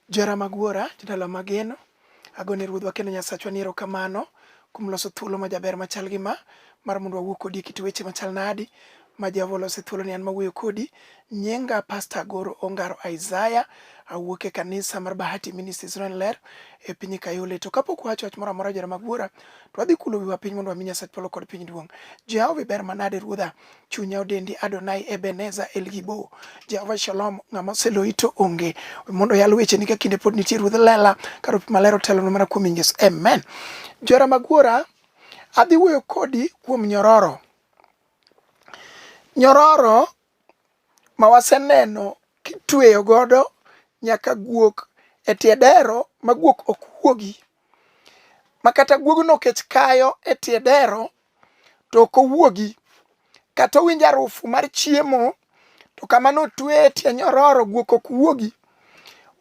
Jara mag wuora, jodala mageno, agone ruodhwa kendo Nyasachwa ni erokamano kuom loso thuolo majaber machal gi ma mar mondo wawuo kodi e kit weche machal nadi ma Jehova olose thuolo ni an mawuoyo kodi. Nyinga Pasta Agoro Ongaro Isaiah, awuok e kanisa mar Bahati Ministries Ren Ler e piny Kayole. To kapok wacho wach moro amora jara mag wuora, to wadhi kulo wiwa piny mondo wami Nyasach polo kod piny duong'. Jehova iber manade ruodha, chunya odendi Adonai Ebenezer El Gibo Jehova Shalom ng'ama oseloyi to onge mondo yal weche ni ka kinde pod nitie ruodh lela ka ruoth maler otelo mana kuom Yesu amen Jora Magwora adhi wuoyo kodi kuom nyororo nyororo ma waseneno kitweyo godo nyaka guok e tie dero ma guok ok wuogi ma kata guogno kech kayo e tie dero to ok owuogi kata owinjo arufu mar chiemo to kama notwe e tie nyororo guok ok wuogi.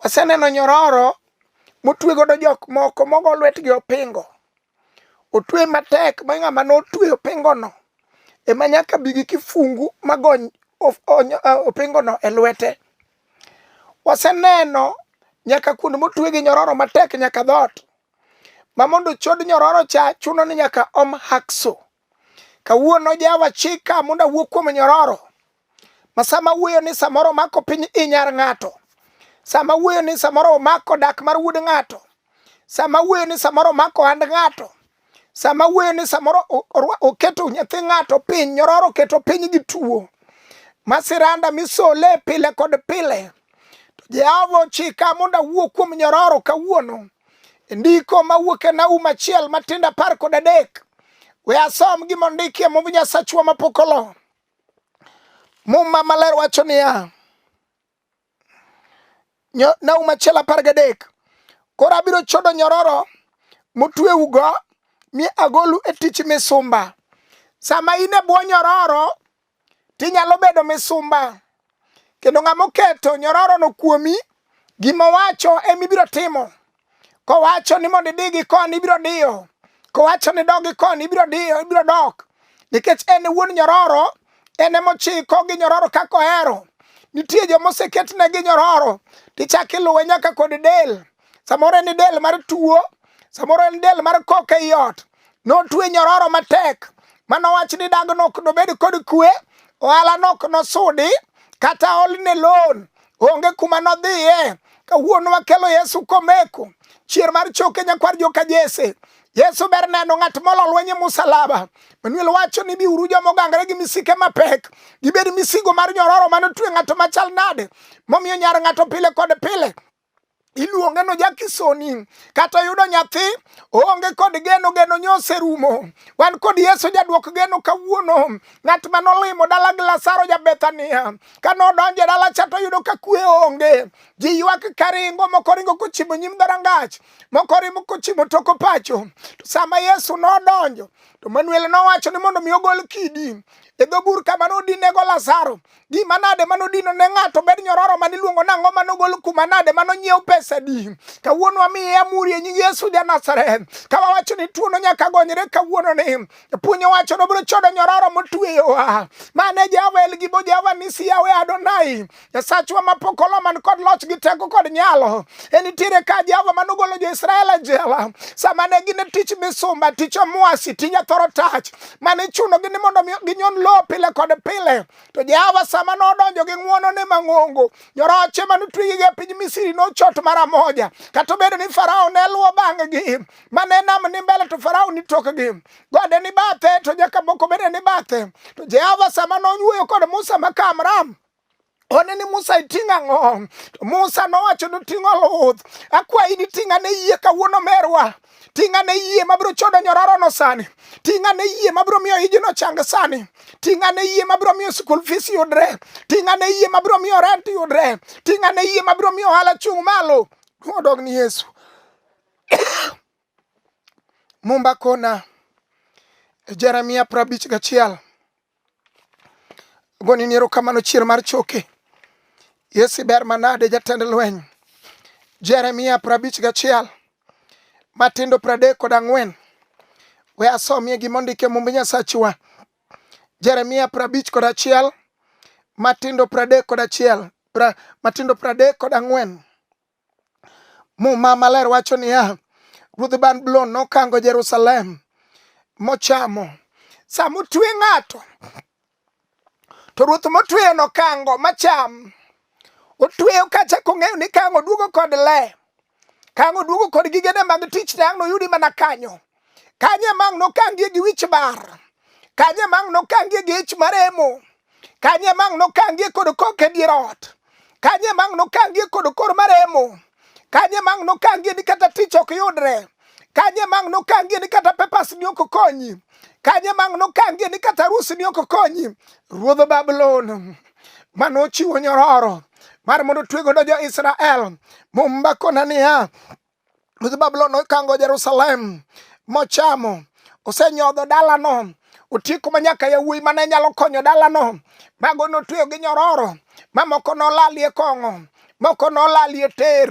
Waseneno nyororo motwe godo jok moko mogo lwetgi opingo otwe matek ma ng'ama notwe opingono ema nyaka bi gi kifungu magony opingono e lwete. Waseneno nyaka kuonde motwe gi nyororo matek nyaka dhoot. ma mondo chod nyororo cha chuno ni nyaka om hakso kawuono jawa chika mondo awuo kuom nyororo ma sama wuoyo ni samoro mako piny inyar ng'ato sama wuoyo ni samoro omako dak mar wuod ng'ato sama wuoyo ni samoro omako hand ng'ato sama wuoyo ni samoro oketo nyathi ng'ato piny nyororo oketo piny gi tuo masiranda misole pile kod pile To Jehova ochika mondo awuo kuom nyororo kawuono. E ndiko mawuok e Naum achiel matindo apar kod adek. We asom gima ondikie mumb Nyasachwa mapok olo. Muma maler wacho niya, Naum achiel apar gadek, koro abiro chodo nyororo motweugo mi agolu e tich misumba. Sama in e bwo nyororo, tinyalo bedo misumba kendo ng'ama oketo nyororono kuomi gima owacho ema ibiro timo kowacho ni mondo idi gi koni ibiro diyo kowacho ni dog gi koni ibiro diyo ibiro dok nikech en wuon nyororo en ema ochiko gi nyororo kaka ohero nitie joma oseketne gi nyororo tichak iluwe nyaka kod del samoro en del mar tuo samoro en del mar koka ei ot notwe nyororo matek mano wach ni dag nok nobed kod kwe ohala nok nosudi kata olne loan onge kuma nodhiye kawuono wakelo yesu komeko chier mar choke nyakwar joka jese yesu ber neno ng'at molo lweny e musalaba manuel wacho ni biuru joma ogangre gi misike mapek gibed misigo mar nyororo mane otwe ng'ato machal nade momiyo nyar ng'ato pile kod pile iluonge no jakisoni kata yudo nyathi oonge kod geno geno nyose rumo wan kod yesu jadwok geno kawuono ng'at ma nolimo dala gi lasaro ja bethania ka nodonjo e dala cha to yudo ka kwe onge ji ywak karingo moko ringo kochimo nyim dharangach moko rimo kochimo toko pacho to sama yesu nodonjo to manuel nowacho ni mondo mi ogol kidi e dho bur kama nodinego lasaro gima nade mano dino ne ng'ato bed nyororo mane iluongo ni ang'o mano gol kuma nade mano nyiew pesa di kawuono amiye amuri e nying yesu ja nazareth ka wawacho ni tuono nyaka gonyre kawuono ni puonyo wacho no biro chodo nyororo motueyowa mane jehova el gibo jehova nisi yawe adonai nyasachwa mapok olo man kod loch gi teko kod nyalo en nitiere ka jehova mano golo jo-israel e jela sama ne gin e tich misumba tich omwasi tija thoro tach mane ichunogi ni mondo ginyon lowo pile kod pile to jehova sama nodonjo gi ng'wonone mang'ongo nyoroche mane otwegigi e piny misiri nochot mara moja kata obedo ni farao ne luwo bang'gi mane nam ni mbele to farao ni tokgi gode ni bathe to nyaka moko bende ni bathe to jehova sama nonyuoyo kod musa ma kamram one ni Musa iting' ang'o? Musa nowacho ni ting' oluth. Akwayi ni ting' ane yie kawuono merwa. Ting' ane yie mabiro chodo nyorarono sani. Ting' ane yie mabiro miyo ijino chang sani. Ting' ane yie mabiro miyo school fees yudre. Ting' ane yie mabiro miyo rent yudre. Ting' ane yie mabiro miyo ohala chung' malo. Odog ni Yesu. Mumba kona. Jeremia prabich gachiel. Goni ni erokamano chier mar choke. Yesu ber manade jatend lweny. Jeremia prabich gachiel. Matindo pradek kod ang'wen. We asomie gima ondike mumb Nyasachwa. Jeremia prabich kod achiel. Matindo pradek kod achiel. Pra, matindo pradek kod ang'wen. Muma maler wacho niya, Ruodh Babulon nokango Jerusalem mochamo. Sama otwe ng'ato, to ruoth motweyo nokango macham. Otweyo kacha kong'eyo ni kango duogo kod le, kango duogo kod gigene mag tich, tang' noyudi mana kanyo. kanye mang' nokangie gi wich bar kanye mang' nokangie gi ich maremo kanye mang' nokangie kod kok e dier ot kanye mang' nokangie kod kor maremo kanye mang' nokangie ni kata tich ok yudre kanye mang' nokangie ni kata pepas ni ok konyi kanye mang' nokangie ni kata rusi ni ok konyi ruodh babulon mane ochiwo nyororo mar mondo otwe godo jo-Israel. Mumba kona niya, Ruodh Babulon nokango Jerusalem mochamo, osenyodho dalano, otieko ma nyaka yawuoyi mane nyalo konyo dalano, mago notweyo gi nyororo, mamoko nolalie kong'o, moko nolalie ter,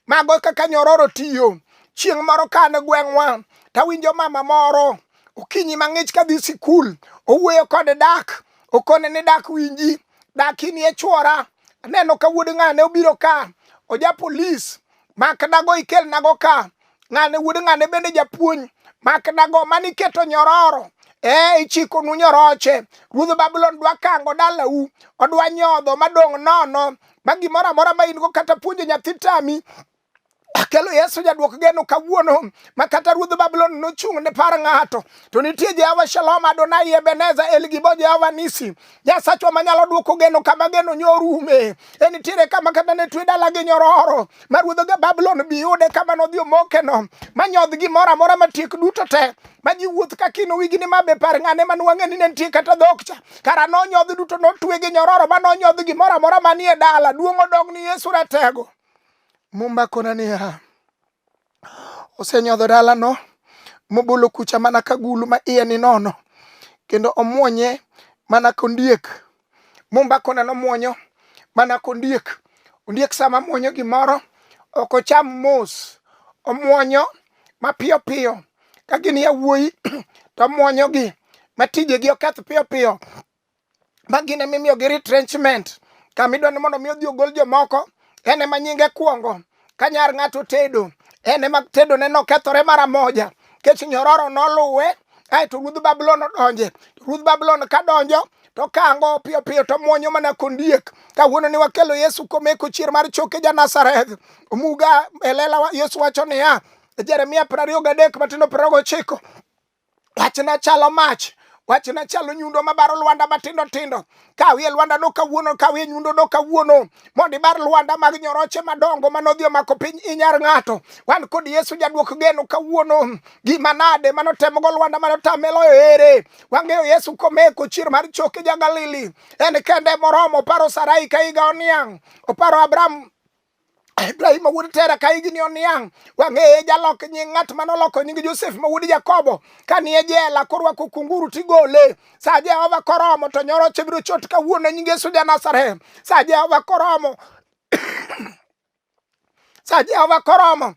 mago kaka nyororo tiyo. Chieng' moro ka an e gweng'wa, tawinjo mama moro okinyi mang'ich kadhi sikul, owuoyo kod dak, okone ni dak winji, dak inie chwora, aneno ka wuod ng'ane obiro ka, oja polis, mak dago ikelnago ka ng'ane wuod ng'ane bende japuonj mak dago mane iketo nyororo ee ichikonu nyoroche ruodh babulon dwa kango dalau odwa nyodho madong' nono ma gimoro amora ma in go kata puonjo nyathi tami kelo yesu jaduok geno kawuono ma kata ruodh babulon nochung' ne par ng'ato to nitie jehova shalom adonai ebeneza elgibo jehova nisi Nyasachwa manyalo dwoko geno kama geno nyorume. E nitiere kama kata ne twe dala gi nyororo ma ruodho ga Babulon bi yude kama nodhi omokeno ma nyodh gimoro amora matiek duto te ma ji wuoth ka kino wigi ni ma be par ng'ane man wang'e ni ne nitie kata dhok cha kara nonyodh duto notwe gi nyororo ma nonyodh gimoro amora manie dala duong' odog ni Yesu ratego. Muma kona niya osenyodho dalano mobolo kucha mana ka gulu ma iye ni nono kendo omwonye mana kondiek mombakone nomwonyo mana kondiek ondiek sama mwonyo gimoro ok ocham mos omwonyo mapiyo piyo ka gin yawuoyi to omwonyogi matijegi oketh piyo piyo ma gin ema imiyogi retrenchment kama idwa ni mondo mi odhi ogol jomoko en ema nyinge kwongo ka nyar ng'ato tedo en ema tedone nokethore mara moja kech nyororo noluwe aeto ruodh babulon odonje To ruodh babulon ka donjo to kango piyo piyo to mwonyo mana kondiek kawuono ni wakelo yesu komeko chier mar choke ja nazareth omuga e lela wa- yesu wacho niya jeremia piero ariyo gadek matindo piero ariyo gochiko Wachna chalo mach wachna chalo nyundo mabaro lwanda matindo tindo kawie lwanda no kawuono kawie nyundo no kawuono mondo ibar lwanda mag nyoroche madongo manodhi omako piny inyar ng'ato wan kod yesu jadwok geno kawuono gima nade manotemogo lwanda manotameloyo ere wang'eyo yesu komeko chier mar choke ja galili en kende moromo oparo sarai ka higa oniang' oparo abraham Ibrahim ma wuod Tera ka higni oniang' wang'eye jalok nying ng'at ma noloko nying Josef ma wuod Jakobo ka ni e jela korwako kunguru tigole sa Jehova koromo to nyoro chibiro chot kawuono nying Yesu ja Nazareth sa Jehova koromo sa Jehova koromo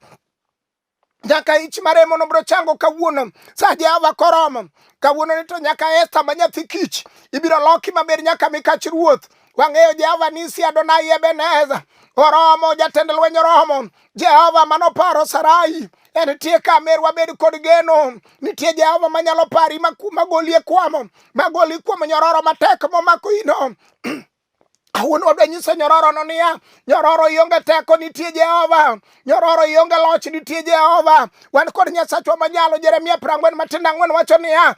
nyaka ich maremo nobro chango kawuono sa jehova koromo kawuono ni to nyaka esta ma nyathi kich ibiro loki maber nyaka mikach ruoth wang'eyo jehova nisi adonai ebeneza oromo jatend lweny oromo jehova manoparo sarai en tie ka mer wabed kod geno nitie jehova manyalo pari magoli e kwamo magoli kuom nyororo matek momako ino Awuon wadwa nyiso nyororono niya, nyororo ionge teko nitie Jehova, nyororo ionge loch nitie Jehova. Wan kod Nyasachwa manyalo. Jeremia prang'wen matindo ang'wen wacho niya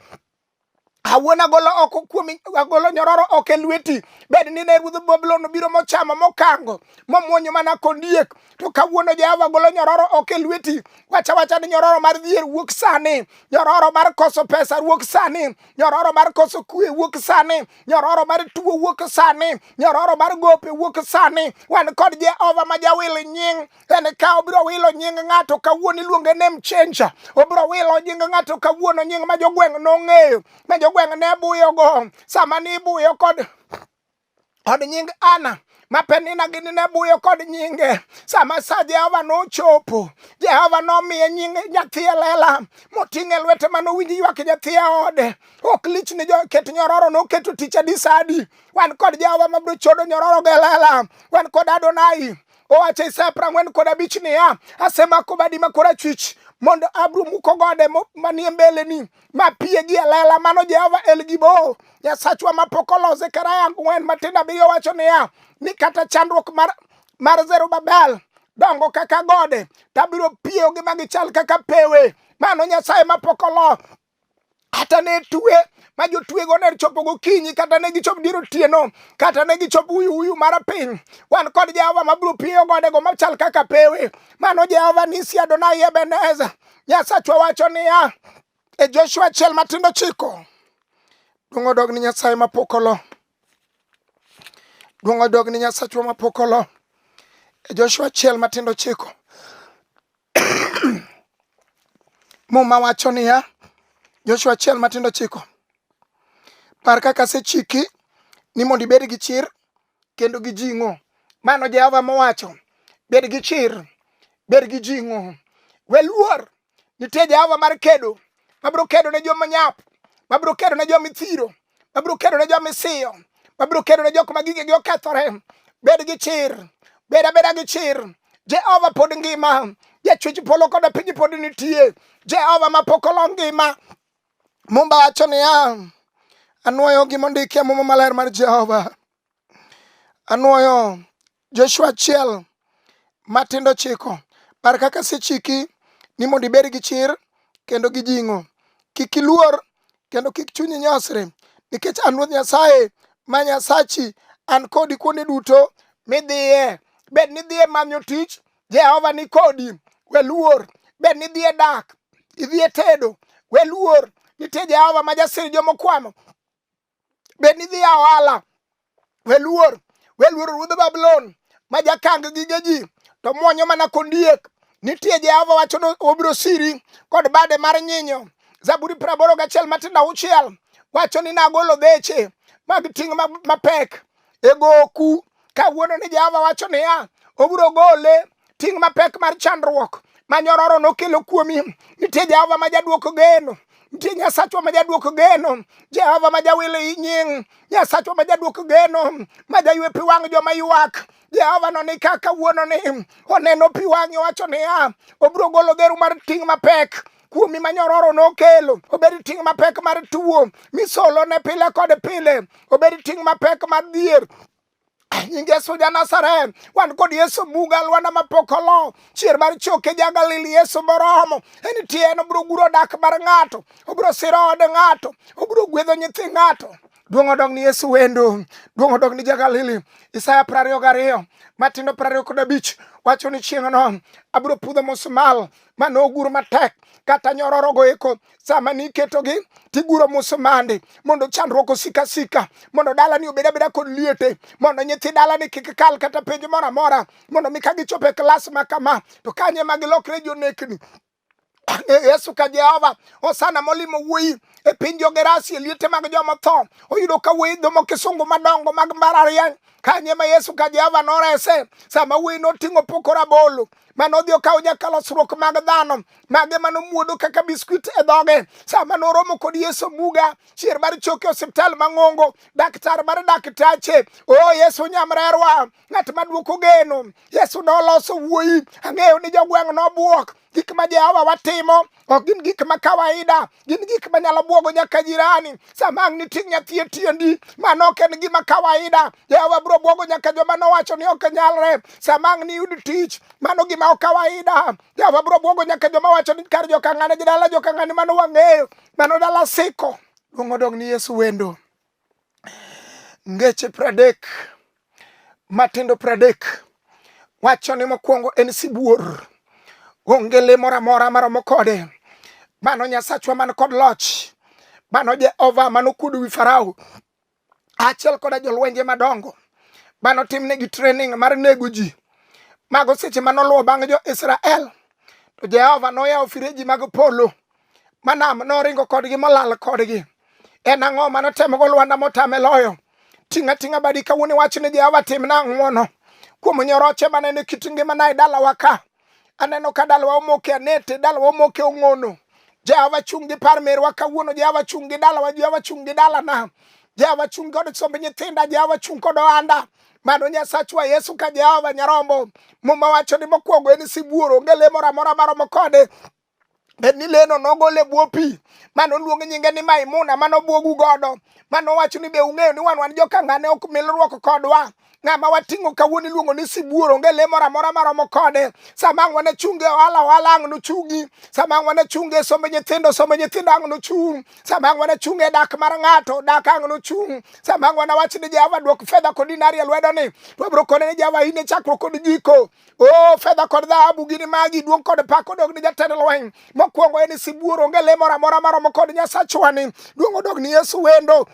Awuon agolo oko kuomi agolo nyororo oko e lweti bed ni ne ruodh Babulon obiro mochamo mokango momwonyo mana kondiek to kawuono Jehova golo nyororo oko e lweti wacha wacha ni nyororo mar dhier wuok sani nyororo mar koso pesa wuok sani nyororo mar koso kue wuok sani nyororo mar tuo wuok sani nyororo mar gope wuok sani wan kod jehova ma jawil nying en ka obiro wilo nying ng'ato kawuono iluonge nem chenja obiro wilo nying ng'ato kawuono nying ma jogweng' nong'eyo ma jogweng' ne buyogo sama nibuyo kod kod nying ana ma Penina gi ne buyo kod nyinge. Sama sa Jehova nochopo, Jehova nomiye nying nyathi e lela moting'e lwete ma nowinj ywak nyathi e ode. Ok lich ni joket nyororo noketo tich adi sa adi. Wan kod Jehova ma biro chodo nyororo gi e lela. Wan kod Adonai owacho Isaya piero ang'wen kod abich niya, asemako badi ma korachwich mondo abro muko gode manie mbeleni ma pie gi elela mano Jehova El Gibo Nyasachwa ma pok olose karaya ang'wen matindo abiriyo wacho niya ni kata chandruok mar, mar Zerubabel dongo kaka gode tabiro piyogi ma gichal kaka pewe mano Nyasaye ma pok olo kata ne tue ma jotwego ne chopo gokinyi kata ne gichop dier otieno kata ne gichop uyu uyu mar piny wan kod jehova mabiro piyo godego machal kaka pewe mano jehova nisi adonai ebeneza Nyasachwa wacho niya e Joshua achiel matindo chiko duong' odog ni Nyasaye mapok olo duong' odog ni Nyasachwa mapok olo e Joshua achiel matindo chiko muma wacho niya Joshua achiel matindo chiko par kaka asechiki ni mondo ibed gi chir kendo gi jing'o. Mano Jehova mowacho, bed gi chir, bed gi jing'o, we luor. Nitie Jehova mar kedo, mabiro kedo ne joma nyap, mabiro kedo ne joma ithiro, mabiro kedo ne joma isiyo, mabiro kedo ne jok ma gigegi okethore. Bed gi chir, bed abeda gi chir. Jehova pod ngima, jachwech polo koda piny pod nitie. Jehova mapok olo ngima, Mumba wacho niya, anwoyo gima ondiki e Muma Maler mar Jehova. Anwoyo Joshua achiel matindo chiko par kaka sechiki ni mondo ibed gi chir kendo gi jing'o. Kik iluor kendo kik chunyi nyosre, nikech an Ruoth Nyasaye ma Nyasachi, an kodi kuonde duto midhiye. Bed ni idhiye manyo tich, Jehova ni kodi, we luor. Bed ni idhi e dak, idhi e tedo, we luor. Nitie Jehova ma jasir jomokwamo. Bed ni idhi e ohala, we luor. We luor ruodh Babulon ma jakang gige ji to mwonyo mana kondiek. Nitie Jehova wacho ni obiro siri kod bade mar nyinyo. Zaburi praboro gachiel matindo auchiel wacho ni nagolo dheche mag ting' mapek e goku kawuono ni Jehova wacho niya, obiro gole ting' mapek mar chandruok ma nyororo nokelo kuomi. Nitie Jehova ma jaduoko geno ntie nyasachwa ma jaduoko geno jehova ma jawilo i nying nyasachwa ma jaduoko geno ma jaywe pi wang' joma ywak jehova no ni kaka wuono ni oneno pi wang'e wacho niya obiro golo geru mar ting' mapek kuomi ma nyororo nokelo obed ting' mapek mar tuo misolo ne pile kod pile obed ting' mapek mar dhier nying yesu ja nazareth wan kod yesu buga alwanda mapok olo chier mar choke ja galili yesu moromo en tie en obiro guro dak mar ng'ato obiro siro od ng'ato obiro gwedho nyithi ng'ato duong' odog ni yesu wendo duong' odog ni ja galili isaya prariyo gariyo matindo prariyo kod abich wacho ni chieng'no abiro pudho musmal ma nogur matek kata nyororogo eko sama niketogi tiguro musumande mondo chandruok osika sika mondo dalani obed abeda kod liete mondo nyithi dalani kik kal kata penj moro amora mondo mi ka gichopo e klas ma kama to kanye ma gilokre jonekni yesu ka jehova osana molimo wuoyi e piny jogerasi e liete mag joma tho oyudo ka wuoyi dhomo kisungu madongo mag mbarariany kanye ma yesu ka jehova norese sama wuoyi noting'o pokora bolo mane odhi okawo nyakalosruok mag dhano mage mane omuodo kaka biskuit e dhoge sama noromo kod yesu muga chier mar choke osiptal mang'ongo daktar mar daktache o oh, yesu nyamrerwa ng'at maduoko geno yesu noloso wuoyi ang'eyo ni jogweng' nobwok gik ma jehova watimo ok gin gik ma kawaida gin gik manyalo bwogo nyaka jirani sama ang' niting' nyathi e tiendi mano ok en gima kawaida jehova biro bwogo nyaka joma nowacho ni ok nyalre sama ang' niyud tich mano gima ok kawaida jehova biro bwogo nyaka joma wacho ni kar jokang'ane gi dala jokang'ane mano wang'eyo mano dala siko duong' odong' ni yesu wendo Ngeche pradek matindo pradek wacho ni mokwongo en sibuor, onge le moro amora maromo kode. Mano Nyasachwa man kod loch, mano Jehova manokuodo wi Farao achiel koda jolwenje madongo mano timnegi training mar nego ji mago seche manoluwo bang' jo-Israel to Jehova noyawo fireji mag polo manam noringo kodgi molal kodgi en ang'o ma notemogo lwanda motame loyo ting'a ting'a badi kawuono iwach ni jehova timna ang'wono kuom nyoroche manene kit ngimana e dalawa ka aneno ka dalawa omoke anete dalawa omoke ong'ono jehova chung' gi par merwa kawuono jehova chung' gi dalawa jehova chung' gi dalana jehova chung' kod somb nyithinda jehova chung' kod ohanda mano nyasachwa yesu ka jehova nyarombo muma wacho ni mokwongo en sibuor onge le moro amora maromo kode bed ni leno nogol e bwo pi ma noluong nyinge ni Maimuna ma nobwogu godo ma nowacho ni be ung'eyo ni wan wan jokangane ok milruok kodwa ng'ama wating'o kawuono iluongo ni sibuor onge le moro amora maromo kode sama ang' wane chunge ohala ohala ang' nochungi sama ang' wane chunge somb nyithindo somb nyithindo ang' nochung' sama ang' wane chunge dak mar ng'ato dak ang' nochung' sama ang' wane wach ni jehova dwok fedha kod dinari e lwedoni to abiro kone ni jehova in e chakruok kod giko O oh, fedha kod dhahabu gini magi, duong' kod pak odog ni jatend lweny. Mokwongo en sibuor, onge le moro amora maromo kod Nyasachwani. Duong' odog ni Yesu wendo.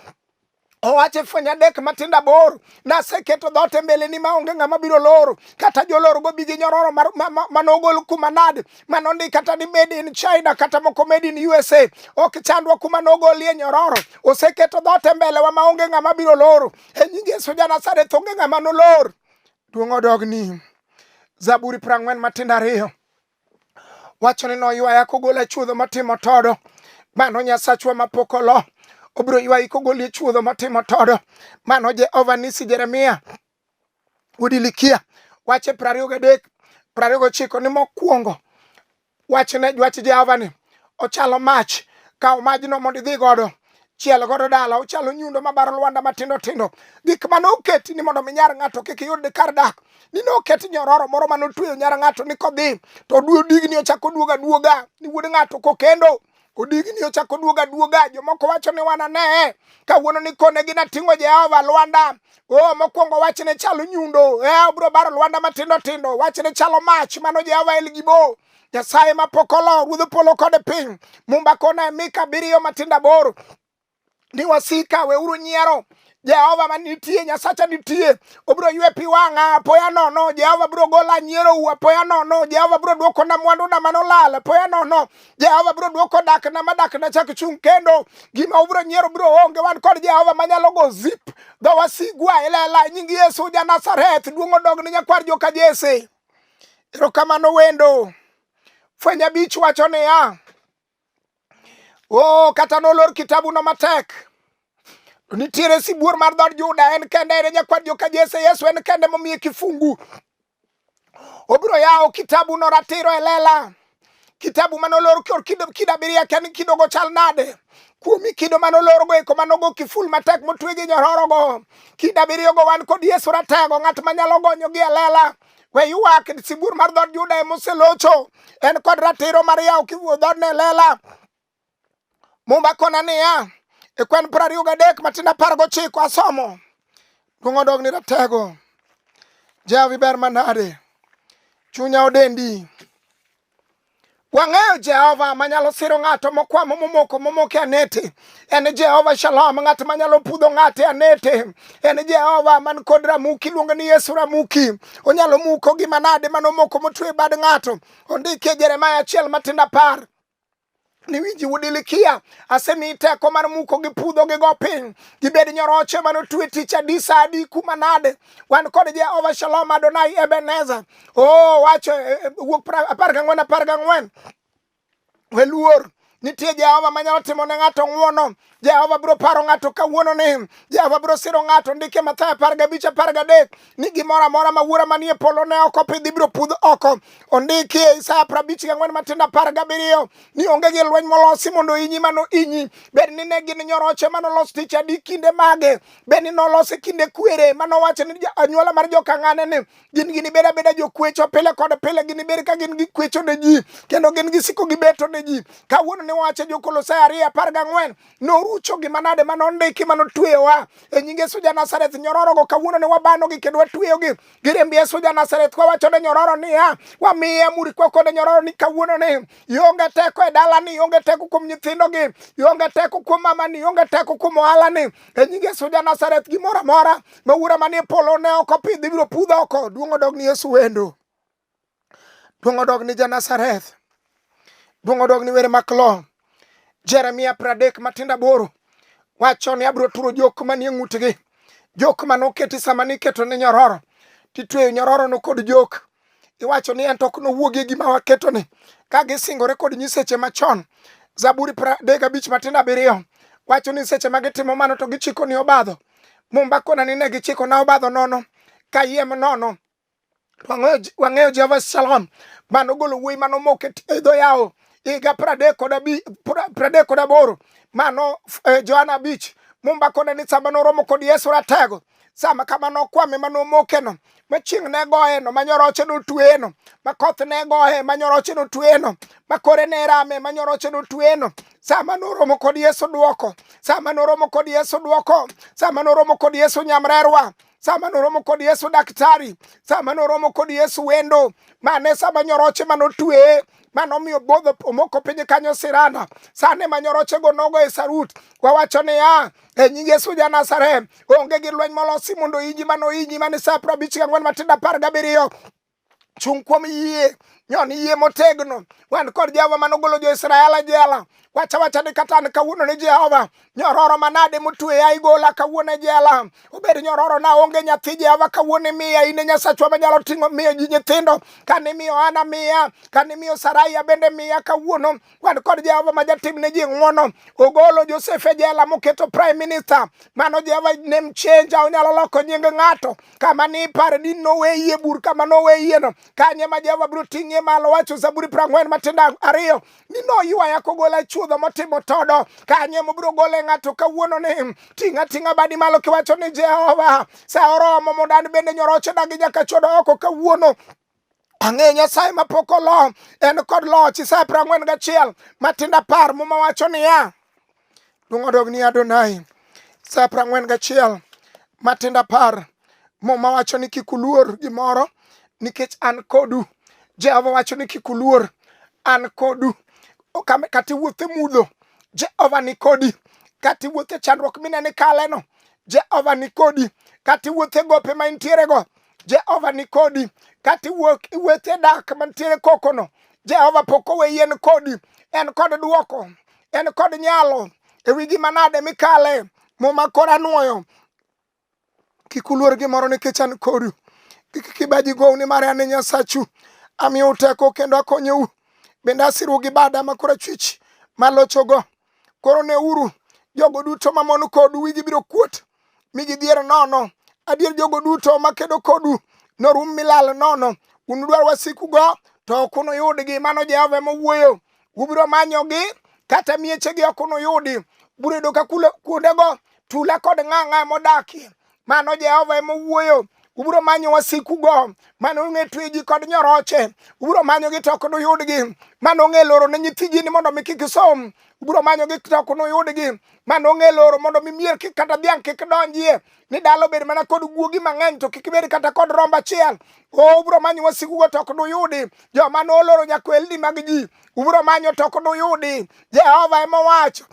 owacho e fweny adek matindo aboro naseketo dhoot e mbeleni maonge ng'ama biro loro kata jolor go bigi nyororo manogol kuma nade manondi kata ni made in china kata moko made in usa ok chandwa kuma nogolie nyororo oseketo dhoot e mbelewa maonge ng'ama biro loro e nying yesu janasareth onge ng'ama nolor Duong' odog ni Zaburi prang'wen matindo ariyo wacho ni noywaya kogola chuodho matimo todo mano nyasachwa mapok olo obiro ywayi kogoli e chuodho matimo todo mano jehova nisi jeremia udilikia wache prariyo gadek prariyo gochiko ni mokwongo Wachne dwach Jehova ni ochalo mach, kaw majno mondo idhi godo chiel godo dala ochalo nyundo mabaro lwanda matindo tindo gik mane oketi ni mondo mi nyar ng'ato kik yud kar dak ni ne oket nyororo moro mane otweyo nyar ng'ato ni kodhi to oduo digni ochako oduoga duoga ni wuod ng'ato kokendo Odigni ochako duoga duoga, jomoko wacho ni wana ne kawuono ni kone gina ting'o Jehova Lwanda. Oh, mokwongo wach ne chalo nyundo, eh, obro baro Lwanda matindo tindo, wach ne chalo mach, mano Jehova El Gibo. Nyasaye ma pokolo, ruodh polo kod piny, mumba kona e mika abiriyo matindo aboro. ni wasika weuru nyiero jehova ma nitie nyasacha nitie obiro ywe pi wang'a apoya nono jehova biro gola nyiero u apoya nono jehova biro dwoko na mwandu na mano lal apoya nono jehova biro dwoko dak na ma dak na chak chung' kendo gima ubiro nyiero biro onge wan kod jehova manyalo go zip dho wasigwa ilela e nying yesu ja nazareth duong' odog ne nyakwar joka jese erokamano wendo fwenya bich wacho niya oh, kata nolor kitabuno matek nitiere sibuor mar dhod Juda en kende en nyakwar joka Jesse Yesu en kende momiye kifungu obiro yawo kitabu no ratiro e lela kitabu mane olor kor kido kido abiriyo kia ni kidogo chal nade kuomi kido mane olorgo eko mane ogo kiful matek motwe gi nyororogo kido abiriyogo wan kod Yesu ratego ng'at manyalo gonyogi e lela we ywak sibuor mar dhood Juda ema oselocho en kod ratiro mar yawo kiwuo dhood ne lela mumba kona niya e kwen piero ariyo gadek matin apar gochiko asomo duong' odog ni ratego jawi ber manade chunya odendi Wang'eyo Jehova manyalo siro ng'ato mokwamo momoko momoke anete. En Jehova Shalom, ng'at manyalo pudho ng'ate anete. En Jehova man kod Ramuki, iluongo ni Yesu Ramuki. Onyalo muko gima nade manomoko motwe bad ng'ato. Ondike Jeremaya achiel matindo apar. ni winji udilikia asemi teko mar muko gi pudho gi go piny gibed nyoroche mano twe tich adi sa adi kuma nade wan kod jehova shalom adonai ebeneza o oh, wacho e, e, wuok apar gang'wen apar gang'wen weluor nitie jehova manyalo timo ne ng'ato ng'wono Jehova biro paro ng'ato kawuono ni Jehova biro siro ng'ato ndike Mathayo apar gabich apar gadek ni gimoro amora ma wuora manie polo ne oko pidhi biro pudh oko ondiki e Isaya prabich gang'wen matindo apar gabiriyo ni onge gi lweny molosi mondo inyi mano inyi bed ni ne gin nyoroche manolos tich adi kinde mage bed ni nolosi kinde kwere manowacho ni anyuola mar jokang'ane ni gin ginibed abeda jokwecho pile kod pile ginibed ka gin gikwecho ne ji kendo gin gisiko gibeto ne ji kawuono ne wacho jokolosai ariyo apar gang'wen norucho gima nade ma nondiki ma notweyowa e nying yesu ja nazareth nyororogo kawuono ne wabanogi kendo watweyogi giriemb yesu ja nazareth kwawacho ne nyororo niya wamiye amuri kwa kode nyororo ni kawuono ni ionge teko e dalani ionge teko kuom nyithindogi ionge teko kuom mamani ionge teko kuom ohalani e nying yesu ja nazareth gimoro amora ma wuora manie polo ne ok opidh ibiro pudh oko duong' odog ni yesu wendo duong' odog ni janazareth duong' odog ni were maklo jeremia pradek matindo aboro wacho ni abiro turo jok manie ng'utgi jok mane oketi sama niketo ne nyororo titweyo nyororono kod jok iwacho ni en to ok nowuogi e gima waketoni ka gisingore kod nyiseche machon zaburi pradek abich matindo abiriyo wacho ni seche ma gitimo mano to gichiko ni obadho mumba kona ni ne gichiko na obadho nono kayiem nono wang'eyo jehova shalom mano golo wuoyi mano moke e dho yawo higa pradek kod aboro mano eh, johana abich mumba kona ni samba noromo kod yesu ratego sama kama nokwame ma nomokeno ma chieng' ne goyeno ma nyoroche notweyeno ma koth ne goye ma nyoroche notweyeno ma kore ne rame ma nyoroche notweyeno sama noromo kod yesu dwoko sama noromo kod yesu dwoko sama noromo kod yesu nyamrerwa sama noromo kod yesu daktari sama noromo kod yesu wendo mane sama nyoroche ma notweye mano omiyo bodho omoko piny kanyo sirana sane ma nyorochego nogo e sarut wawacho niya e nying Yesu ja Nazareth, onge gi lweny molosi mondo inji mano inji mane sa prabich gang'wen matindo apar gabiriyo chung' kuom yie nyon yie motegno wan kod jehova mane ogolo jo-israel e jela wacha wacha ni kata an kawuono ni jehova nyororo manade motweya igola kawuono e jela obed nyororo na onge nyathi jehova kawuono imiya in e nyasachwa manyalo ting'o miyo ji nyithindo kane imiyo ana miya kane imiyo saraia bende miya kawuono wan kod Jehova ma jatim ne ji ng'wono. Ogolo Josef e jela moketo prime minister. Mano Jehova name changer, onyalo loko nying ng'ato. Kama ni ipare ni noweyie bur kama noweyieno. Kanye ma Jehova biro ting'ie malo wacho Zaburi prang'wen matindo ariyo ni noywaya kogola e chuodho motimo todo. Kanye mobiro gole ng'ato kawuono ni ting'a ting'a badi malo kiwacho ni Jehova sa oromo mondo an bende nyoroche dagi nyaka chodo oko kawuono. Ang'e Nyasaye ma pok olo, en kod loch. Isaya piero ang'wen gachiel matindo apar muma wacho niya, duong' odog ni Adonai. Isaya piero ang'wen gachiel matindo apar muma wacho ni kik uluor gimoro nikech an kodu. Jehova wacho ni kik uluor, an kodu. Okame- Kata iwuotho e mudho, Jehova ni kodi. Kata iwuotho e chandruok mineno ikaleno, Jehova ni kodi. Kata iwuotho e gope ma intierego, Jehova ni kodi kata iwuok iwuothe dak mantiere kokono Jehova pok owe yien kodi en kod duoko en kod nyalo e wi gima nade mikale muma kora nwoyo kik uluor gimoro nikech an kodu kik kibaji gou nimar an e nyasachu amiyou teko kendo akonyou bende asirou gi bada ma kora chwich malochogo koro neuru jogo duto mamon kodu wigi biro kuot mi gidhier nono adier jogo duto makedo kodu norum milal nono unudwar wasikugo to ok unuyudgi mano jehova mowuoyo ubiro manyogi kata miechegi ok unuyudi biro yudo ka kuondego tula kod ng'ang'a modakie mano jehova emowuoyo ubiro manyo wasikugo mane ong'e tweji kod nyoroche ubiro manyogi to ok duyudgi mane ong'e loro ne nyithiji ni mondo mi kik isom biro manyo gi to ok nuyudgi ma nong'e loro mondo mi mier kik kata dhiang' kik donjie ni dala obed mana kod guogi mang'eny to kik bed kata kod rombo achiel o ubiro manyo wasikugo to ok nuyudi joma noloro nyakwelni mag ji ubiro manyo to ok nuyudi jehova ema owacho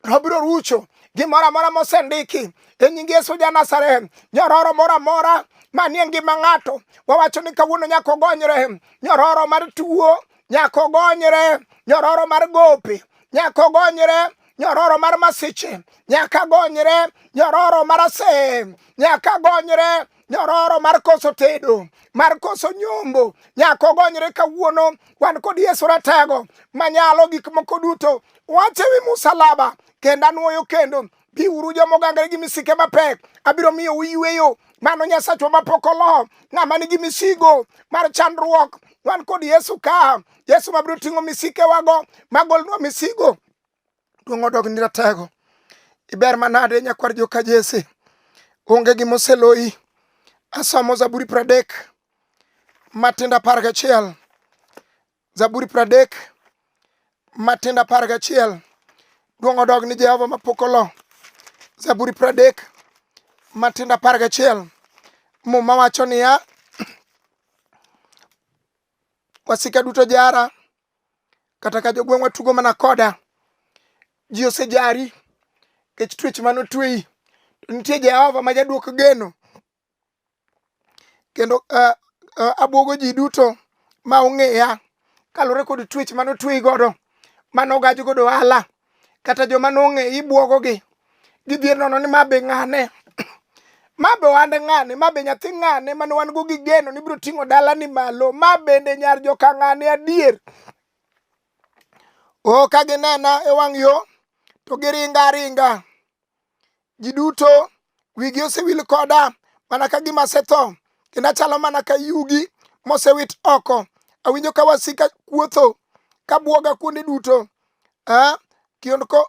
to obiro rucho gimoro amora mosendiki e nying yesu ja nazareth nyororo moro amora manie ngima ng'ato wawacho ni kawuono nyaka ogonyre nyororo mar tuo nyako gonyre nyororo mar gope nyako gonyre nyororo mar masiche nyaka gonyre nyororo mar asem nyaka gonyre nyororo mar koso tedo mar koso nyombo nyako gonyre kawuono wan kod yesu ratego manyalo gik moko duto wache wi musalaba kendo anwoyo kendo Biuru joma ogangre gi misike mapek, abiro miyo uyweyo. Mano Nyasachwa mapok olo, ng'ama nigi misigo mar chandruok. Wan kod Yesu ka, Yesu mabiro ting'o misikewago, magolnwa misigo. Duong' odog ni ratego. Iber manade nyakwar joka Jesse. Onge gima oseloyi. Asomo Zaburi pradek matindo apar gachiel. Zaburi pradek matindo apar gachiel duong' odog ni Jehova mapok olo. Zaburi pradek matindo apar gachiel muma wacho niya wasika duto jara kata ka jogweng'wa tugo mana koda ji osejari kech twech mane otweyi to nitie Jehova ma jadwok geno kendo uh, uh, abwogo ji duto ma ong'eya kaluwore kod twech mane otweyi godo mane ogaj godo ohala kata joma nong'e ibwogogi gidhier nono ni ma be ng'ane ma be ohande ng'ane ma be nyathi ng'ane mane wan go gi geno ni biro ting'o dalani malo ma bende nyar joka ng'ane adier o ka ginena e wang' yo to giringa aringa Ji duto wigi osewil koda mana ka gima asetho, kendo achalo mana ka yugi mosewit oko. Awinjo ka wasika kuotho ka bwoga kuonde duto. Eh, kionko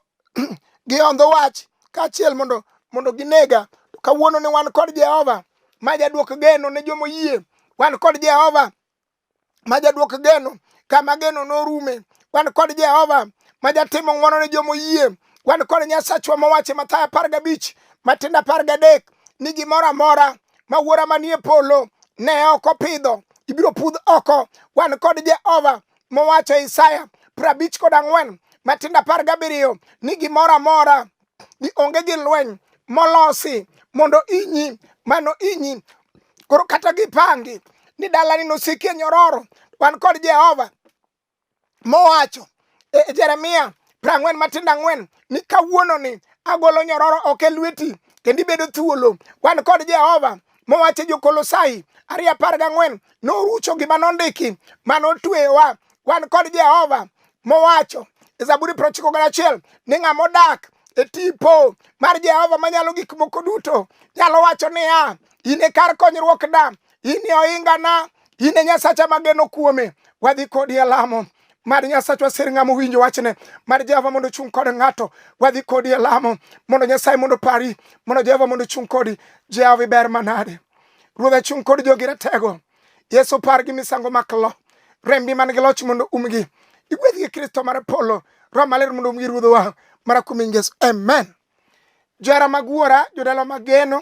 gihondho wach kaachiel mondo mondo ginega. To kawuono ne wan kod Jehova ma jadwok geno ne joma oyie. Wan kod Jehova ma jadwok geno kama geno norume wan kod jehova ma jatimo ng'wono ne joma oyie wan kod nyasachwa mowacho mathayo apar gabich matindo apar gadek ni gimoro amora ma wuora manie polo ne ok opidho ibiro pudh oko wan kod jehova mowacho e isaya prabich kod ang'wen matindo apar gabiriyo ni gimoro amora ni onge gi lweny molosi mondo inyi mano inyi koro kata gipangi ni dalani nosiki e nyororo wan kod jehova mowacho e, e jeremia prang'wen matindo ang'wen ni kawuononi agolo nyororo ok e lweti kendo ibedo thuolo wan kod jehova mowache jokolosai ariyo apar gang'wen norucho gima nondiki ma notweyowa wan kod jehova mowacho e zaburi prochiko gana achiel ni ng'ama odak e tipo mar jehova manyalo gik moko duto nyalo wacho niya in e kar konyruokna in e ohingana in e nyasacha mageno kuome wadhi kodi e lamo Mad Nyasachwa sir ng'ama owinjo wachne. Mad Jehova mondo ochung' kod ng'ato. Wadhi kodi e lamo. Mondo Nyasaye mondo pari. Mondo Jehova mondo ochung' kodi. Jehova iber manade. Ruoth achung' kod jogi ratego. Yesu par gi misango mak lo. Rembi man gi loch mondo umgi. Igwedh gi Kristo mar polo. Roho maler mondo umgi ruodhowa. Mara kuom Yesu. Amen. Johera mag wuora, jodala mag geno.